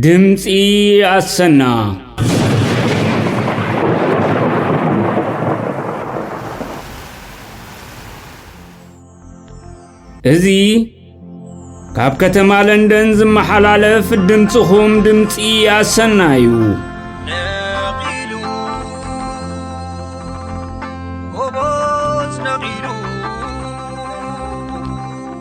ድምፂ ኣሰና እዚ ካብ ከተማ ለንደን ዝመሓላለፍ ድምፅኹም ድምፂ ኣሰና እዩ ነቒሉ ጎቦት ነቒሉ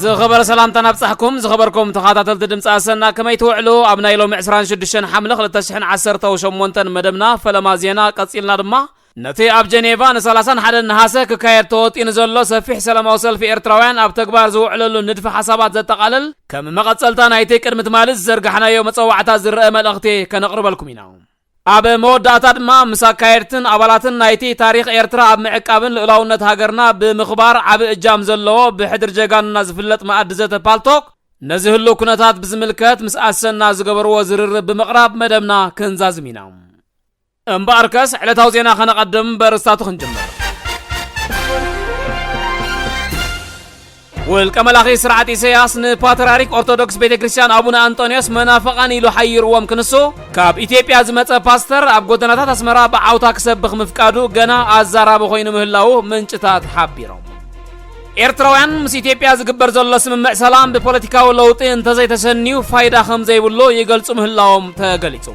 ዝኸበረ ሰላምታና ኣብጻሕኩም ዝኸበርኩም ተኻታተልቲ ድምፂ ኣሰና ከመይ ትውዕሉ ኣብ ናይ ሎሚ 26 ሓምለ 2018 መደብና ፈለማ ዜና ቀጺልና ድማ ነቲ ኣብ ጀኔቫ ን31 ነሃሰ ክካየድ ተወጢኑ ዘሎ ሰፊሕ ሰላማዊ ሰልፊ ኤርትራውያን ኣብ ተግባር ዝውዕለሉ ንድፊ ሓሳባት ዘጠቓልል ከም መቐጸልታ ናይቲ ቅድሚ ትማሊ ዝዘርጋሕናዮ መጸዋዕታ ዝረአ መልእኽቲ ከነቕርበልኩም ኢና። ኣብ መወዳእታ ድማ ምስ ኣካየድትን ኣባላትን ናይቲ ታሪኽ ኤርትራ ኣብ ምዕቃብን ልኡላውነት ሃገርና ብምኽባር ዓቢ እጃም ዘለዎ ብሕድሪ ጀጋኑና ዝፍለጥ መኣዲ ዘተ ፓልቶክ ነዚ ህሉው ኩነታት ብዝምልከት ምስ ኣሰና ዝገበርዎ ዝርርብ ብምቕራብ መደብና ክንዛዝም ኢና። እምበኣርከስ ዕለታዊ ዜና ከነቐድም በርእስታቱ ክንጅምር። ውልቀ መላኺ ስርዓት ኢሰያስ ንፓትርያርክ ኦርቶዶክስ ቤተ ክርስቲያን ኣቡነ ኣንጦንዮስ መናፍቓን ኢሉ ሓይርዎም ክንሱ ካብ ኢትዮጵያ ዝመጸ ፓስተር ኣብ ጎደናታት ኣስመራ ብዓውታ ክሰብኽ ምፍቃዱ ገና ኣዛራቢ ኮይኑ ምህላዉ ምንጭታት ሓቢሮም። ኤርትራውያን ምስ ኢትዮጵያ ዝግበር ዘሎ ስምምዕ ሰላም ብፖለቲካዊ ለውጢ እንተዘይተሰንዩ ፋይዳ ከምዘይብሉ ይገልጹ ምህላዎም ተገሊጹ።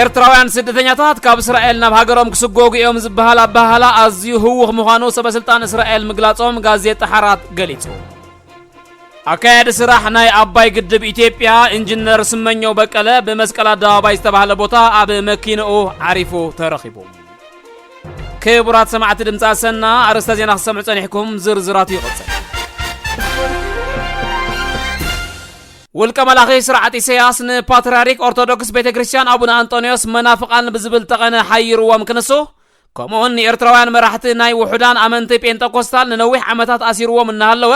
ኤርትራውያን ስደተኛታት ካብ እስራኤል ናብ ሃገሮም ክስጎጉ እዮም ዝበሃል ኣበሃህላ ኣዝዩ ህዉኽ ምዃኑ ሰበስልጣን እስራኤል ምግላጾም ጋዜጣ ሓራት ገሊጹ። ኣካያዲ ስራሕ ናይ ኣባይ ግድብ ኢትዮጵያ ኢንጂነር ስመኘው በቀለ ብመስቀል ኣደባባይ ዝተባህለ ቦታ ኣብ መኪንኡ ዓሪፉ ተረኺቡ። ክቡራት ሰማዕቲ ድምፂ ኣሰና ኣርእስተ ዜና ክሰምዑ ጸኒሕኩም ዝርዝራቱ ይቕጽል። ውልቀ መላኺ ስርዓት ኢሰያስ ንፓትርያርክ ኦርቶዶክስ ቤተ ክርስቲያን ኣቡነ ኣንጦንዮስ መናፍቓን ብዝብል ጠቐነ ሓይርዎም ክንሱ ከምኡውን ንኤርትራውያን መራሕቲ ናይ ውሑዳን ኣመንቲ ጴንጠኮስታል ንነዊሕ ዓመታት ኣሲርዎም እናሃለወ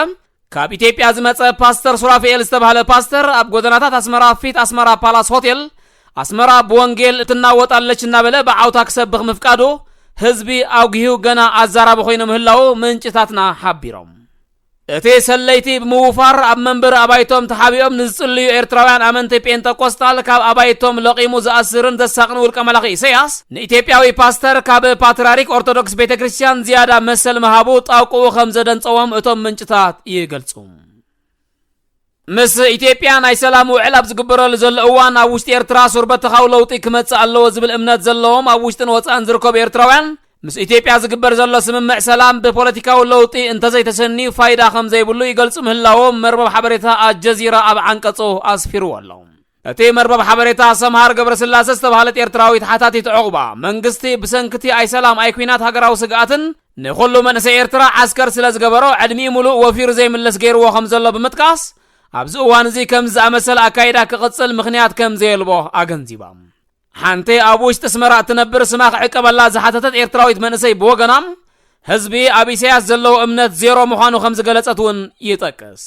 ካብ ኢትዮጵያ ዝመጸ ፓስተር ሱራፊኤል ዝተባህለ ፓስተር ኣብ ጎደናታት ኣስመራ ፊት ኣስመራ ፓላስ ሆቴል ኣስመራ ብወንጌል ትናወጥ ኣለች እናበለ ብዓውታ ክሰብኽ ምፍቃዱ ህዝቢ ኣውጊሁ ገና ኣዛራቢ ኮይኑ ምህላዉ ምንጭታትና ሓቢሮም። እቲ ሰለይቲ ብምውፋር ኣብ መንበሪ ኣባይቶም ተሓቢኦም ንዝጽልዩ ኤርትራውያን ኣመንቲ ጴንጠቆስጣል ካብ ኣባይቶም ለቒሙ ዝኣስርን ዘሳቕን ውልቀ መላኺ ኢሰያስ፣ ንኢትዮጵያዊ ፓስተር ካብ ፓትርያርክ ኦርቶዶክስ ቤተ ክርስቲያን ዝያዳ መሰል ምሃቡ ጣውቅኡ ከምዘደንጸዎም እቶም ምንጭታት ይገልጹ። ምስ ኢትዮጵያ ናይ ሰላም ውዕል ኣብ ዝግበረሉ ዘሎ እዋን ኣብ ውሽጢ ኤርትራ ሱር በተኻዊ ለውጢ ክመጽእ ኣለዎ ዝብል እምነት ዘለዎም ኣብ ውሽጥን ወጻእን ዝርከቡ ኤርትራውያን ምስ ኢትዮጵያ ዝግበር ዘሎ ስምምዕ ሰላም ብፖለቲካዊ ለውጢ እንተዘይተሰንዩ ፋይዳ ከም ዘይብሉ ይገልጹ ምህላዎም መርበብ ሓበሬታ ኣልጀዚራ ኣብ ዓንቀጹ ኣስፊርዎ ኣሎ። እቲ መርበብ ሓበሬታ ሰምሃር ገብረስላሰ ዝተባህለት ኤርትራዊት ሓታቲት ዑቕባ፣ መንግስቲ ብሰንኪ'ቲ ኣይሰላም ኣይኲናት ሃገራዊ ስግኣትን ንኹሉ መንእሰይ ኤርትራ ዓስከር ስለ ዝገበሮ ዕድሚኡ ምሉእ ወፊሩ ዘይምለስ ገይርዎ ከም ዘሎ ብምጥቃስ ኣብዚ እዋን'ዚ ከምዚ ዝኣመሰለ ኣካይዳ ክቕጽል ምኽንያት ከም ዘየልቦ ኣገንዚባ። ሓንቲ ኣብ ውሽጢ ኣስመራ እትነብር ስማ ክዕቀበላ ዝሓተተት ኤርትራዊት መንእሰይ ብወገና ህዝቢ ኣብ ኢሳያስ ዘለዎ እምነት ዜሮ ምዃኑ ከም ዝገለጸት'ውን ይጠቅስ።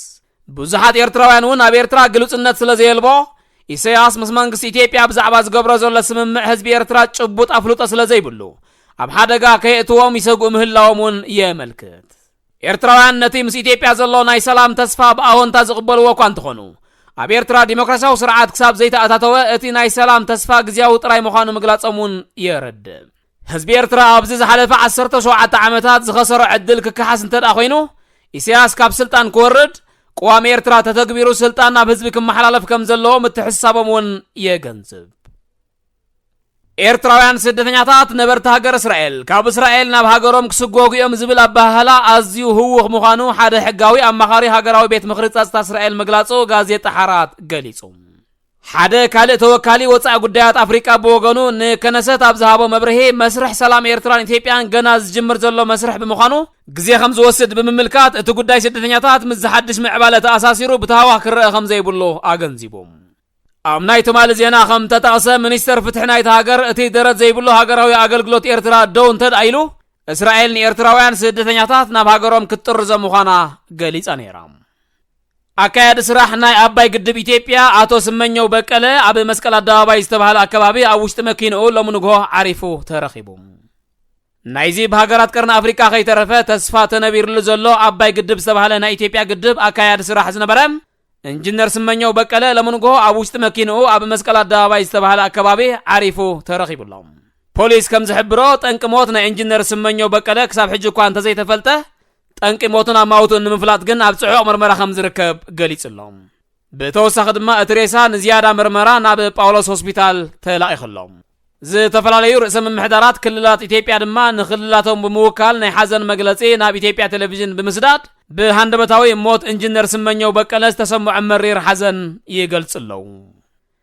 ብዙሓት ኤርትራውያን እውን ኣብ ኤርትራ ግሉጽነት ስለ ዘየልቦ ኢሰያስ ምስ መንግስቲ ኢትዮጵያ ብዛዕባ ዝገብሮ ዘሎ ስምምዕ ህዝቢ ኤርትራ ጭቡጥ ኣፍልጦ ስለ ዘይብሉ ኣብ ሓደጋ ከየእትዎም ይሰግኡ ምህላዎም እውን የመልክት። ኤርትራውያን ነቲ ምስ ኢትዮጵያ ዘሎ ናይ ሰላም ተስፋ ብኣወንታ ዝቕበልዎ እኳ እንተኾኑ ኣብ ኤርትራ ዲሞክራሲያዊ ስርዓት ክሳብ ዘይተኣታተወ እቲ ናይ ሰላም ተስፋ ግዝያዊ ጥራይ ምዃኑ ምግላጾም እውን የረድእ። ህዝቢ ኤርትራ ኣብዚ ዝሓለፈ ዓሰርተ ሸውዓተ ዓመታት ዝኸሰሮ ዕድል ክከሓስ እንተድኣ ኮይኑ ኢሳያስ ካብ ስልጣን ክወርድ ቅዋም ኤርትራ ተተግቢሩ ስልጣን ናብ ህዝቢ ክመሓላለፍ ከም ዘለዎ ምትሕስሳቦም እውን የገንዝብ። ኤርትራውያን ስደተኛታት ነበርቲ ሃገር እስራኤል ካብ እስራኤል ናብ ሃገሮም ክስጎጉ እዮም ዝብል ኣበሃህላ ኣዝዩ ህውኽ ምዃኑ ሓደ ሕጋዊ ኣማኻሪ ሃገራዊ ቤት ምኽሪ ጸጥታ እስራኤል ምግላጹ ጋዜጣ ሓራት ገሊጹ። ሓደ ካልእ ተወካሊ ወጻኢ ጉዳያት ኣፍሪቃ ብወገኑ ንከነሰት ኣብ ዝሃቦ መብርሂ መስርሕ ሰላም ኤርትራን ኢትዮጵያን ገና ዝጅምር ዘሎ መስርሕ ብምዃኑ ግዜ ከም ዝወስድ ብምምልካት እቲ ጉዳይ ስደተኛታት ምስ ዝሓድሽ ምዕባለ ተኣሳሲሩ ብታህዋኽ ክረኣ ከም ዘይብሉ ኣገንዚቡ። ኣብ ናይ ትማሊ ዜና ከም ተጠቕሰ ሚኒስተር ፍትሒ ናይታ ሃገር እቲ ደረት ዘይብሉ ሃገራዊ ኣገልግሎት ኤርትራ ደው እንተድኣ ኢሉ እስራኤል ንኤርትራውያን ስደተኛታት ናብ ሃገሮም ክትጥርዞ ምዃና ገሊጻ ነይራ። ኣካያዲ ስራሕ ናይ ኣባይ ግድብ ኢትዮጵያ ኣቶ ስመኘው በቀለ ኣብ መስቀል ኣደባባይ ዝተባህለ ኣከባቢ ኣብ ውሽጢ መኪንኡ ሎሚ ንግሆ ዓሪፉ ተረኺቡ። ናይዚ ብሃገራት ቀርኒ ኣፍሪቃ ከይተረፈ ተስፋ ተነቢርሉ ዘሎ ኣባይ ግድብ ዝተባህለ ናይ ኢትዮጵያ ግድብ ኣካያዲ ስራሕ ዝነበረ ኢንጂነር ስመኘው በቀለ ሎሚ ንግሆ ኣብ ውሽጢ መኪንኡ ኣብ መስቀል ኣደባባይ ዝተባህለ ኣከባቢ ዓሪፉ ተረኺቡ ኣሎ። ፖሊስ ከም ዝሕብሮ ጠንቂ ሞት ናይ ኢንጂነር ስመኘው በቀለ ክሳብ ሕጂ እኳ እንተዘይተፈልጠ ጠንቂ ሞቱን ኣማውትኡን ንምፍላጥ ግን ኣብ ጽዑቕ ምርመራ ከም ዝርከብ ገሊጹ ኣሎ። ብተወሳኺ ድማ እቲ ሬሳ ንዝያዳ ምርመራ ናብ ጳውሎስ ሆስፒታል ተላኢኹ ኣሎ። ዝተፈላለዩ ርእሰ ምምሕዳራት ክልላት ኢትዮጵያ ድማ ንክልላቶም ብምውካል ናይ ሓዘን መግለጺ ናብ ኢትዮጵያ ቴሌቪዥን ብምስዳድ ብሃንደበታዊ ሞት ኢንጂነር ስመኘው በቀለ ዝተሰምዖም መሪር ሓዘን ይገልጹ ኣለዉ።